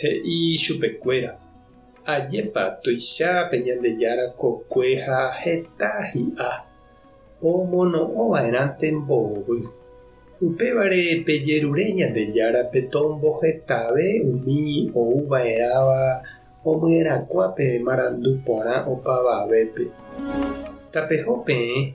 He'i chupekuéra, Ajépa tuicha pe Ñandejára kokue ha heta hi'a omono'õva'erãnte mbohovy. Upévare pejerure Ñandejárape tombohetave umi ouva'erãva omyerakuã pe marandu porã opavavépe. Tapeho peẽ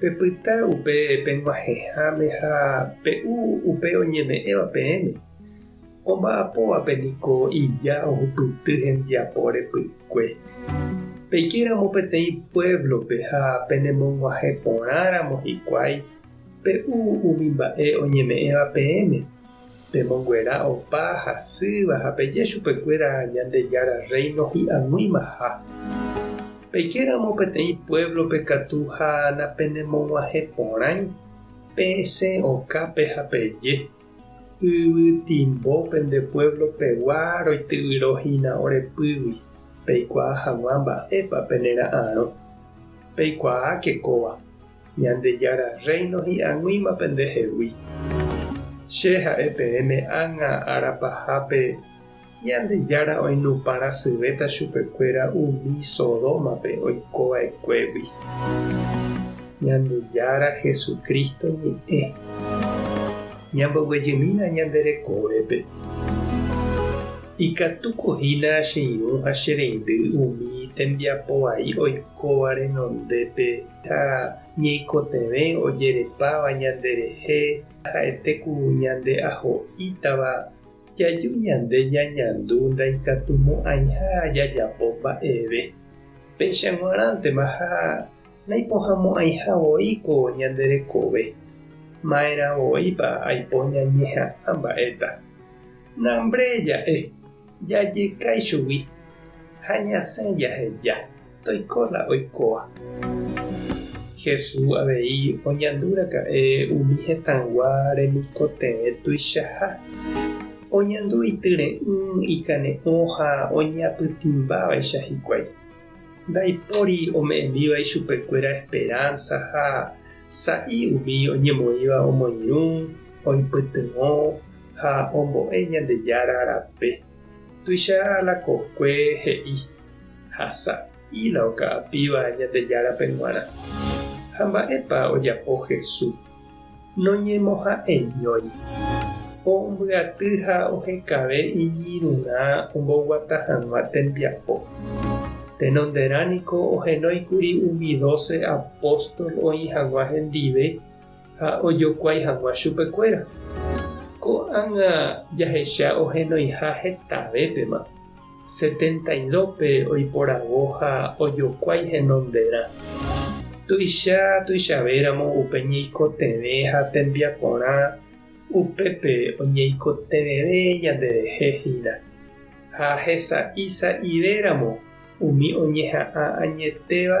Pepyta upe peg̃uahẽháme ha pe'u upe oñeme'ẽva peẽme. Omba'apóvape niko ija ohupyty hembiapo repy'kue. Peikéramo peteĩ puévlope ha penemog̃uahẽ porãramo hikuái, pe'u umi mba'e oñeme'ẽva peẽme. Pemonguera opa hasýva ha peje chupekuéra Ñandejára Rréino hi'ag̃uimaha. Peikéramo peteĩ puévlope katu ha napenemog̃uahẽ porãi, pesẽ okápe ha peje, Yvytimbo pende puévlopegua roityvyrohína ore pýgui, peikuaa hag̃ua mba'épa penera'arõ. Peikuaáke kóva. Ñandejára Rréino hi'aguĩma pendehegui. Che ha'e peẽme ág̃a ára pahápe Ñandejára oinupãrasyvéta chupekuéra umi Sodómape oiko va'ekuégui. Ñandejára Jesucristo ñe'ẽ. Ñamboguejymína ñande rekovépe. Ikatúko hína che irũ ha che reindy umi tembiapo vai oikóva renondépe. ha ñeikotevẽ ojerepáva ñanderehe ha'ete ku ñande aho'ítava jaju ñande ñañandu ndaikatumo'ãiha jajapo mba'eve. Péicha g̃uarãntema ha naipohãmo'ãiha voi ko ñande rekove. Ma'erã voipa aipo ñañeha'ã mba'éta. Nambre ja'e, jajekái chugui ha ñasẽ jaheja. Toiko la oikóva. Hesu avei oñandu raka'e umi hetãgua remikotevẽ tuichaha. Oñandu ityre'ỹ, ikane'õ ha oñapytĩmbávaicha hikuái. Ndaipóri ome'ẽmíva ichupekuéra esperánsa ha sa'i umi oñemoĩva omoirũ, oipytyvõ ha ombo'e Ñandejára rape. Tuicha la kokue he'i ha sa'i la oka'apíva Ñandejárape g̃uarã. Ha mba'épa ojapo Jesús? Noñemoha'eñói. Ombyaty ha ohekave iñirũrã omboguata hag̃ua tembiapo. Tenonderã niko ohenói kuri umi doce apóstol oĩ hag̃ua hendive ha ojokuái hag̃ua chupekuéra. Ko'ág̃a jahecha ohenoiha hetavépema, Setendailópe oiporavo ha ojokuái henonderã. Tuicha tuichavéramo upe ñeikotevẽ ha tembiaporã upépe oñeikotevẽve ñanderehe hína, ha hesa'i sa'ivéramo umi oñeha'ã añetéva,